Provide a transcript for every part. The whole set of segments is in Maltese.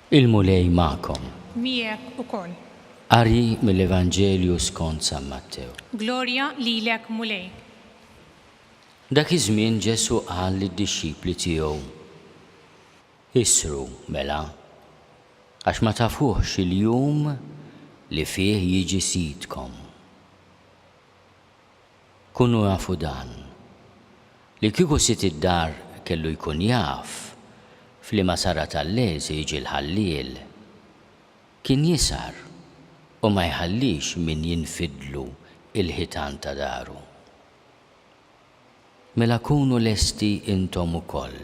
Il-Mulej magħkom. Miegħek ukoll. Qari mill-Evanġelju skont San Mattew. Glorja lilek Mulej. Dak iż-żmien Ġesù qal lid-dixxipli tiegħu, Issru, mela, għax ma tafuhx il-jum li fih jiġi Sidkom. Kunu afu dan, li kieku sid id-dar kellu jkun jaf f'liema sara tal-lejl se jiġi l-ħalliel, kien jisar u ma jħallix min jinfidlu l-ħitan ta' daru. Mela kunu lesti intom ukoll,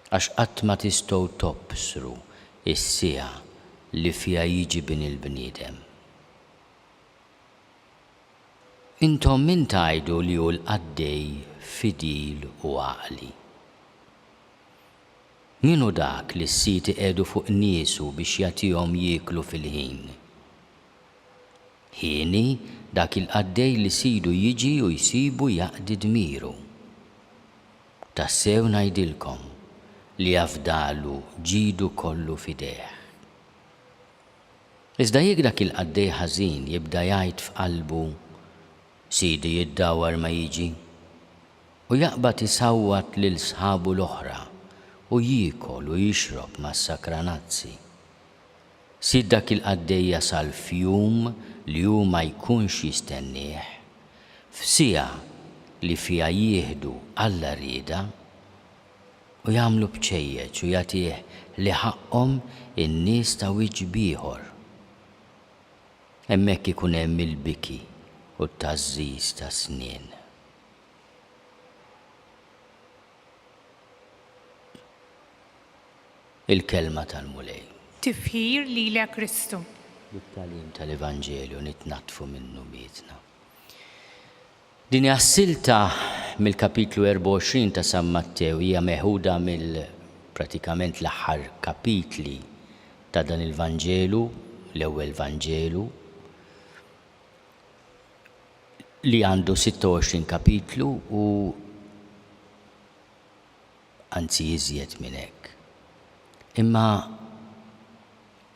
għax qatt ma tistgħu tobsru s-siegħa li fiha jiġi Bini l-bniedem. Intom min tgħidu li hu l-qaddej fidil u għaqli? Min hu dak li s-sid iqiegħdu fuq niesu biex jagħtihom jieklu fil-ħin? Hieni dak il-qaddej li sidu jiġi u jsibu jaqdi dmiru. Tassew ngħidilkom li afdalu ġidu kollu f'idejh. Iżda jekk dak il-qaddej ħażin jibda jgħid f'qalbu, Sidi jiddawwar ma jiġi, u jaqbad isawwat lil sħabu l-oħra u jiekol u jixrob mas-sakranazzi, Sid dak il-qaddej jasal f'jum li hu ma jkunx jistennieh, f'siegħa li fiha jieħdu Alla rieda, u jagħmlu bċejjeċ u jagħtih li ħaqqhom in-nies ta' wiċċ b'ieħor. Hemmhekk ikun hemm il-biki u t-tgħażżiż ta' snien. Il-Kelma tal-Mulej. Tifħir lilek Kristu. Bit-tagħlim tal-Evanġelju nitnaddfu minn dnubietna. Din hija s-silta mill-kapitlu 24 ta' San Mattew hija meħuda mill pratikament l-aħħar kapitli ta' dan il-Vanġelu, l-ewwel Vanġelu. li għandu 26 kapitlu u anzi iżjed minn hekk. Imma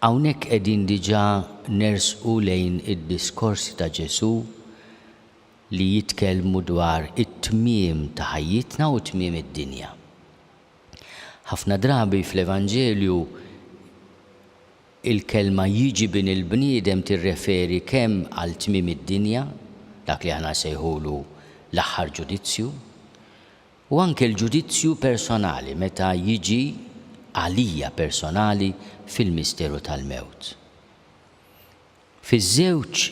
hawnhekk qegħdin diġà nersqu lejn id-diskorsi ta' Ġesù li jitkellmu dwar it-tmiem ta' ħajjitna u tmiem id-dinja. Ħafna drabi fl-Evanġelju Il-kelma jiġi bin il-bniedem tirreferi kemm għal tmiem id-dinja, dak li aħna nsejħulu l-aħħar ġudizzju, u anke l-ġudizzju personali meta jiġi għalija personali fil-misteru tal-mewt. Fiż-żewġ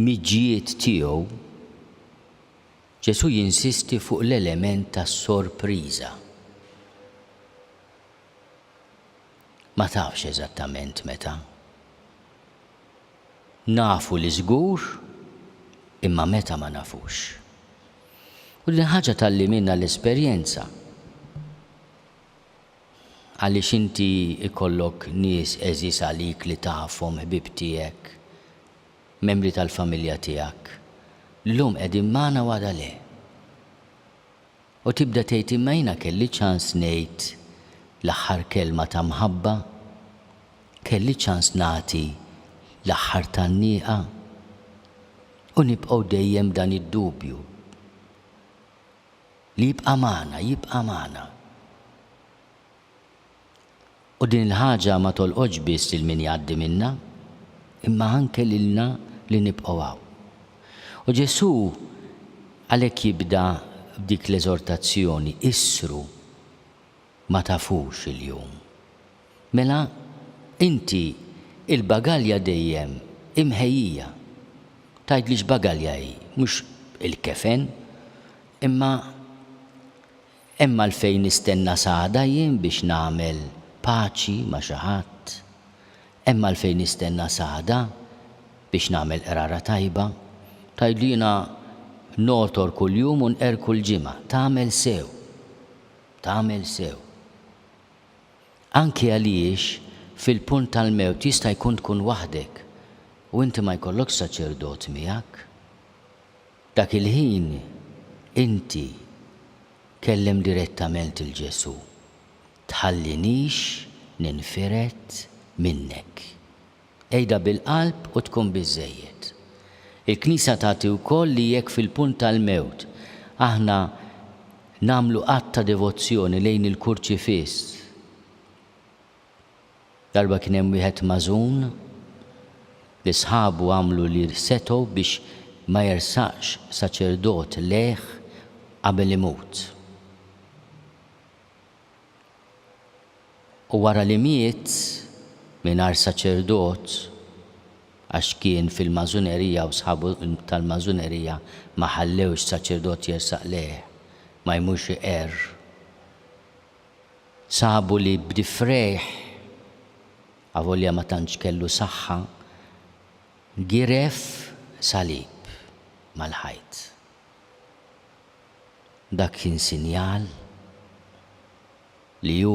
miġjiet tiegħu, Ġesù jinsisti fuq l-element ta' sorpriża. Ma tafx eżattament meta. Nafu li żgur, imma meta ma nafux. U din ħaġa tgħalliminha l-esperjenza. Għaliex inti jkollok nies għeżież għalik li tafhom, ħbieb tiegħek, membri tal-familja tiegħek, llum qegħdin magħna u għada le. U tibda tgħid imma jiena kelli ċans ngħid l-aħħar kelma ta' mħabba, kelli ċans nagħti l-aħħar tgħanniqa. U nibqgħu dejjem b'dan id-dubju li jibqa' magħna, jibqa' magħna. U din il-ħaġa ma tolqotx biss lil min jgħaddi minnha, imma anke lilna li nibqgħu hawn. U Ġesù għalhekk jibda b'dik l-eżortazzjoni, Issru, ma tafux il-jum. Mela, inti, il-bagalja dejjem hi mħejjija. Tgħidli x'bagalja hi, mhux il-kefen, imma. Hemm għalfejn nistenna s'għada jien biex nagħmel paċi ma' xi ħadd? Hemm għalfejn nistenna s'għada biex nagħmel qrara tajba? Tgħidlu jiena ngħotor kuljum u nqerr kull ġimgħa. Tagħmel sew. Tagħmel sew. Anki għaliex fil-punt tal-mewt jista' jkun tkun waħdek u inti ma jkollokx saċerdot miegħek. Dak il-ħin inti kellem direttament lil Ġesù, Tħallinix ninfired minnek. Għidha bil-qalb u tkun biżżejjed. Il-Knisja tagħti wkoll li jekk fil-punt tal-mewt aħna nagħmlu att ta' devozzjoni lejn il-Kurċifiss, Darba kien hemm wieħed magħżun li sħabu għamlu li setgħu biex ma jersaqx saċerdot lejh qabel imut. U wara li miet mingħajr saċerdot għax kien fil-magħżunerija u sħabu tal-magħżunerija ma ħallewx saċerdot jersaq lejh ma jmurx iqerr. Sabu li b'difrejh, avolja ma tantx kellu saħħa, giref salib mal-ħajt. Dak kien sinjal li hu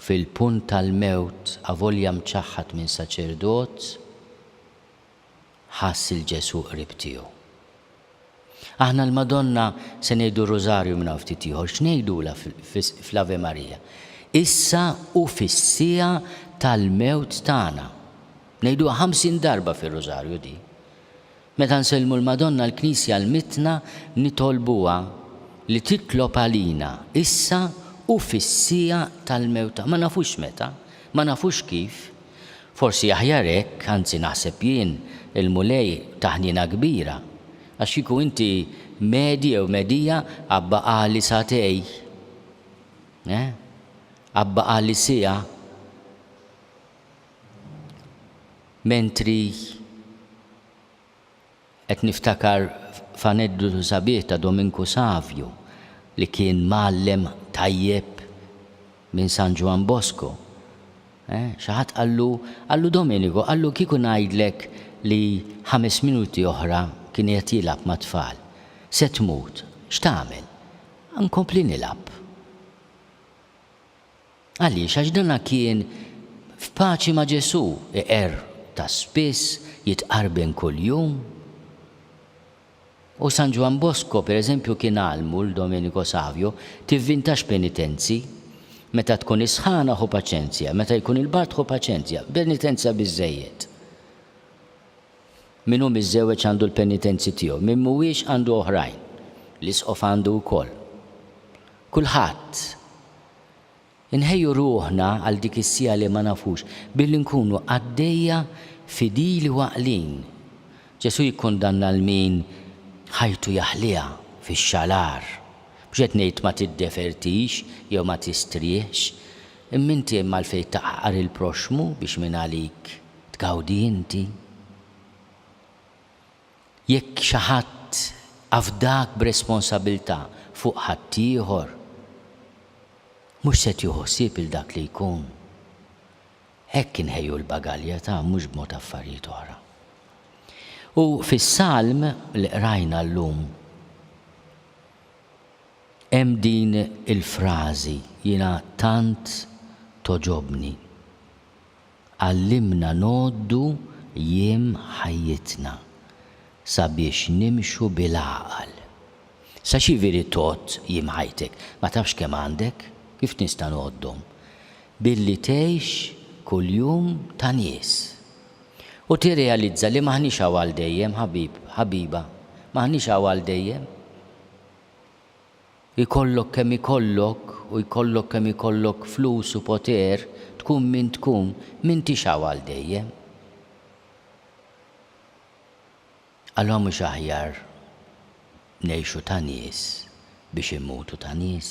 fil-punt tal-mewt avolja mċaħħad minn saċerdot, ħass lil Ġesù qrib tiegħu. Aħna l-Madonna se ngħidu r-Rużarju minn hawn ftit ieħor, x'ngħidulha fl-Ave Maria? Issa u fis-siegħa tal-mewt tagħna. Ngħiduha ħamsin darba fir-Rużarju din. Meta nsellmu l-Madonna l-Knisja għallmitna nitolbuha li titlob għalina issa u fis-siegħa tal-mewt tagħna. Ma nafux meta, ma nafux kif, Forsi aħjar hekk, anzi naħseb jien, il-Mulej ta ħniena kbira, għax kieku inti medi jew medija abbaqagħli sagħtej, eh? Abbaqagħli siegħa mentri Qed niftakar f'aneddotu sabiħ ta' Dominku Savju li kien mgħallem tajjeb minn San Ġwann Bosko. Xi ħadd qallu, qallu Domenico, qallu kieku ngħidlek li ħames minuti oħra kien qiegħed jilgħab mat-tfal, se tmut, x'tagħmel? Nkompli nilgħab. Għaliex? Għax dana kien f'paċi ma' Ġesù, iqerr ta' spiss, jitqarben kuljum. U San Ġwann Bosco, per eżempju, kien għallmu 'l Domenico Savio, Tivvintax penitenzi. Meta tkun is-sħana ħu paċenzja, meta jkun il-bard ħu paċenzja, penitenza biżżejjed. Min hu miżżewweġ għandu l-penitenzi tiegħu, min m'huwiex għandu oħrajn. L-Isqof għandu wkoll. Kulħadd. Inħejju ruħna għal dik is-siegħa li ma nafux billi nkunu qaddejja fidili u għaqlin. Ġesù jikkundanna lil min ħajtu jaħliha fix-xalar. Mhux qed ngħid ma tiddefertix jew ma tistrieħx, imma inti hemm għalfejn taqgħaqar il-proxxmu biex mingħalik tgawdi inti? Jekk xi ħadd afdak b'responsabilità fuq ħaddieħor, mhux se tieħu ħsieb 'il dak li jkun. Hekk inħejju l-bagalja ta' mhux b'mod affarijiet oħra. U fis-Salm li qrajna llum hemm din il-frażi jiena tant togħġobni. Għallimna ngħoddu jiem ħajjitna sabiex nimxu bil-għaqal. Sa x'jiviri tgħodd jiem ħajtek? Ma tafx kemm għandek? Kif nista' ngħoddhom? Billi tgħix kuljum ta' nies. U tirrealizza li m'aħniex hawn għal dejjem, ħabib, ħabiba. M'aħniex hawn għal dejjem. Ikollok kemm ikollok u jkollok kemm ikollok flus u poter, tkun min tkun, m'intix hawn għal dejjem. Allura mhux aħjar ngħixu ta' nies biex immutu ta' nies?